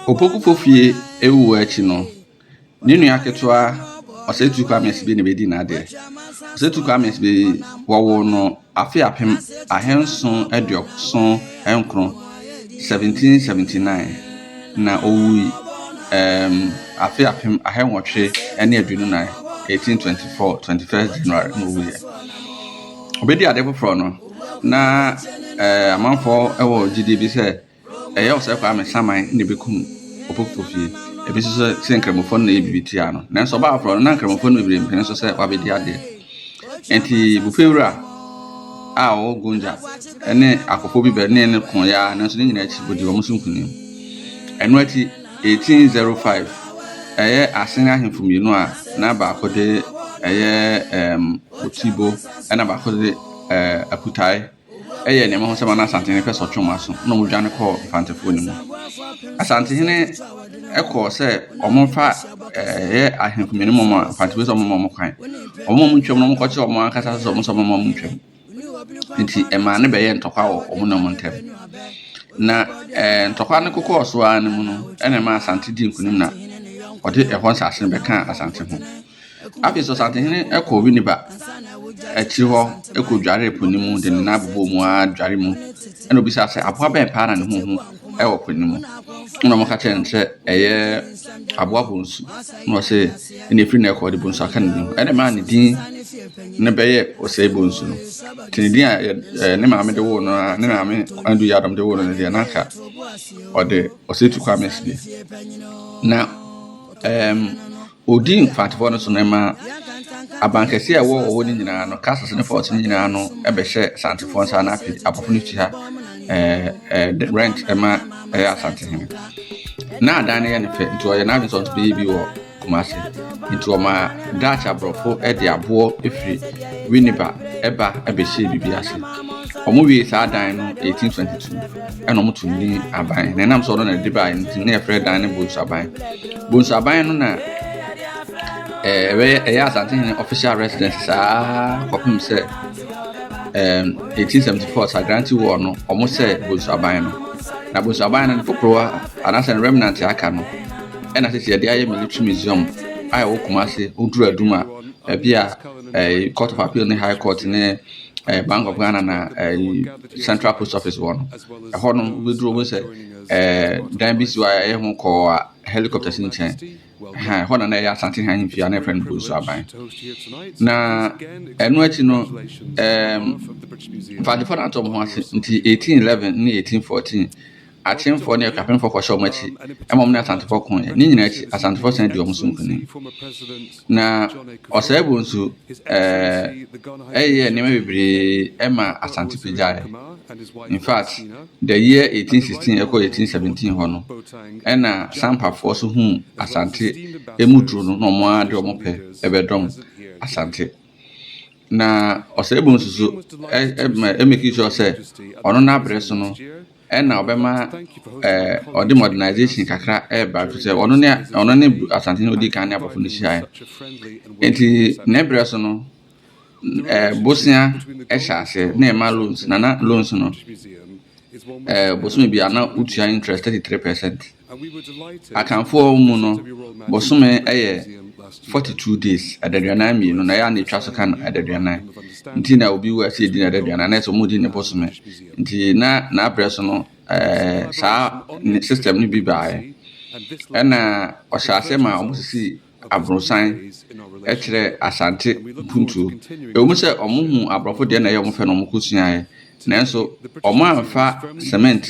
Opokupo fie awuwu akyi no, ne nua ketewa Ɔsatu Kwame Sibi na obedii n'ade. Ɔsatu Kwame Sibi, wɔwoo no afe apem ahanson aduɔson nkron, 1779, na owui um afe apem ahanwɔtwe ne aduonu nan, 1824, 21st January na owuiɛ. Obedii ade foforɔ no, na eh, amanfoɔ wɔ gyidie bi sɛ Ɛyɛ wo sɛ Kwame saman na ebekum Opoku fie. Ebi nso sɛ sɛ Nkramofo no na ɛyɛ biribi tia no. Nanso ɔbaa foforo no, na Nkramofo no bebree mpene so sɛ wabedi adeɛ. Enti Bufewura a ɔwɔ Gonja ne akofo bi bɛnee no ko yɛ ara nanso ne nyinaa akyi odii wɔn so nkonim. Ɛno akyi, 1805, ɛyɛ Asen ahemfo mmienu a na baako de ɛyɛ um, Otibo ɛna baako de uh, Akutae yɛɛ nea mahu sɛ ma na Asantehene pɛ sɛ ɔtwe wɔn aso na wɔdwane kɔɔ Mfantefoɔ no mu. Asantehene kɔɔ sɛ wɔmfa ɛyɛ ahemfo mmienu mu a Mfantefoɔ sɛ wɔmma wɔn kwan. Wɔn a wɔtwam no wɔkɔkyerɛ wɔn ankasa sɛ wɔn sɛ wɔmma wɔn ntwam. Nti ɛmaa no bɛyɛ ntɔkwa wɔ wɔn na wɔn ntam. Na ɛɛ ntɔkwa no kokɔɔ so ara no mu no ɛna ɛma Asante di nkunim na ɔde ɛhɔ nsase no bɛkaa Asante ho. Afei Sosatehene kɔɔ Winneba akyiri hɔ kɔdwaree po no mu de ne nan bobɔɔ mu ara dware mu. Ɛna obisaa sɛ aboa bɛn paa na ne ho hu wɔ po no mu. Ɛna wɔka kyerɛɛ no sɛ ɛyɛ aboa bonsu. Na ɔse ɛna ɛfiri na ɛkɔ ɔde bonsu aka ne din ho. Ɛna maa ne din no bɛyɛ ɔsɛe bonsu no. Nti ne din a eh, ne maame de woo no a ne maame Andu Yadom de woo no no deɛ na anka ɔde ɔsɛe tu kɔ amɛsi deɛ. Na ɛɛm. Um, Odii mfatoho no so na ɛmaa abankɛseɛ a ɛwɔ ɔwɔ no nyinaa no, castles ne forts no nyinaa no bɛhyɛ Asantefoɔ nsa na afei abɔfo no tua eh, eh, rent ɛma ɛyɛ eh, Asantehene. Na adan no yɛ ne fɛ nti ɔyɛ n'adwene sɛ ɔnso bɛyɛ bi wɔ Kumasi nti ɔma Dutch aborɔfo de aboɔ firi Winneba ɛba ɛbɛhyɛɛ biribi ase. Wɔn wie saa dan no 1822. ɛna wɔn tumi di aban na ɛnam sɛ ɔno na ɛde baa nti na yɛfrɛ dan no bonsaban bonsaban no na ɛɛ ɛbɛyɛ ɛyɛ asantehene official residence saa kɔpem sɛ ɛɛm eighteen seventy four sagrante wɔ no wɔn sɛ bonsaban no na bonsaban no foforɔ a anaasɛ no remnant aka no ɛna sisi yɛde ayɛ military museum a ɛwɔ kumase oduru adum a ɛbi a ɛɛ court of appeal ne high court ne ɛɛ bank of ghana na ɛɛ. central post office hɔ no ɛhɔ no wobɛduro mu sɛ ɛɛ dan bi si hɔ a ɛyɛ ho kɔɔ a helicopter si nkyɛn ɛhɛn ɛhɔ na na ɛyɛ asante ha ahemfie a na ɛfrɛ no bonsu aban na ɛno akyi no ɛɛm fadefa no atɔ mo ho ase nti 1811 ne 1814 Akyemfoɔ ne Akuapemfoɔ kɔhyɛ wɔn akyi ma wɔne Asantefoɔ koeɛ. Ne nyinaa akyi, Asantefoɔ san di wɔn so nkonim. Na Ɔsɛeɛbo nso eh, yɛɛ nneɛma bebree ma Asante pagyaeɛ. In fact, the year 1816 ɛkɔ 1817 hɔ no, ɛna Sampafoɔ so huu Asante emu duro no na wɔn ara de wɔn pɛ ɛbɛdɔm Asante. Na Ɔsɛeɛbo nso so ɛmɛki sure sɛ ɔno n'abrɛ so no Ɛna ɔbɛma ɛɛ ɔde modernization kakra ɛreba fi sɛ ɔno ne ɔno ne Asantehene odi kan ne abɔfo no hyiae. Eti ne brɛ so no ɛɛ bosea ɛhyɛ aseɛ na ɛma loans na na loans no ɛɛ bosome bi a na wotua interest thirty three percent. Akanfoɔ mu no bosome yɛ forty two days adaduanan mmienu na ɛyɛ a na etwa so ka no adaduanan nti na obi wu ɛsɛ edi no adaduanan na ɛsɛ wɔn di ne bosome nti na n'abrɛ so no ɛɛ saa system no bi baeɛ ɛna ɔhyɛ ase ma wɔn sisi aborosan kyerɛ Asante mpuntuo. Ɛwom sɛ wɔhuu aborɔfo deɛ na ɛyɛ wɔn fɛ na wɔkɔsuaeɛ, nanso wɔamfa cement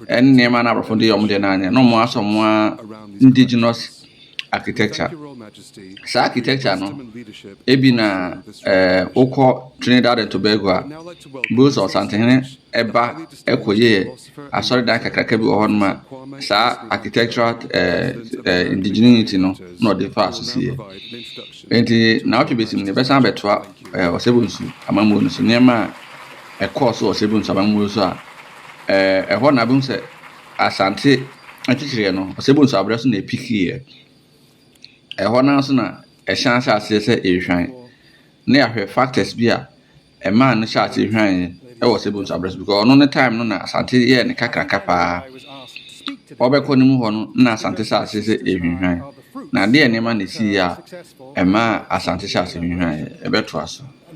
ne nneɛma na aborɔfo de yɛ wɔn deɛ no anyɛ, na wɔasɔ wɔn ara indigenous architecture. Saa architecture no, ebi na ɛɛ wokɔ Trinidad and Tobago a, bohu sɛ Ɔsantehene ɛba ɛkɔyɛɛ Asɔredan kakraka bi wɔ hɔnom a saa architectural indigeneity no na ɔde faa so siiɛ. Enti naawɔtwe bɛsi mu no yɛbɛsan abɛtoa Ɔsɛbonsu amammuo no so, nneɛma a ɛkɔɔ so wɔ Ɔsɛbonsu amammuo no so a ɛhɔ na wobɛhu sɛ Asante akyikyireɛ no Ɔsɛbonsu aberɛ so na ɛpikiiɛ. Ɛhɔ no ara so na ɛhyɛn ahyɛ aseɛ sɛ ɛrehwan. Ne yɛahwɛ factors bi a Ɛmaa no hyɛɛ aseɛ hwann wɔ Sebon so aberɛ so because ɔno ne time no na Asante yɛɛ ne kakraka paa. Ɔbɛkɔ ne mu hɔ no na Asante hyɛ aseɛ sɛ ɛhwinhwan. Na adeɛ nneɛma na ɛsiiɛ a ɛmaa Asante hyɛɛ aseɛ hwinhwan yɛ. Ɛbɛtoa so.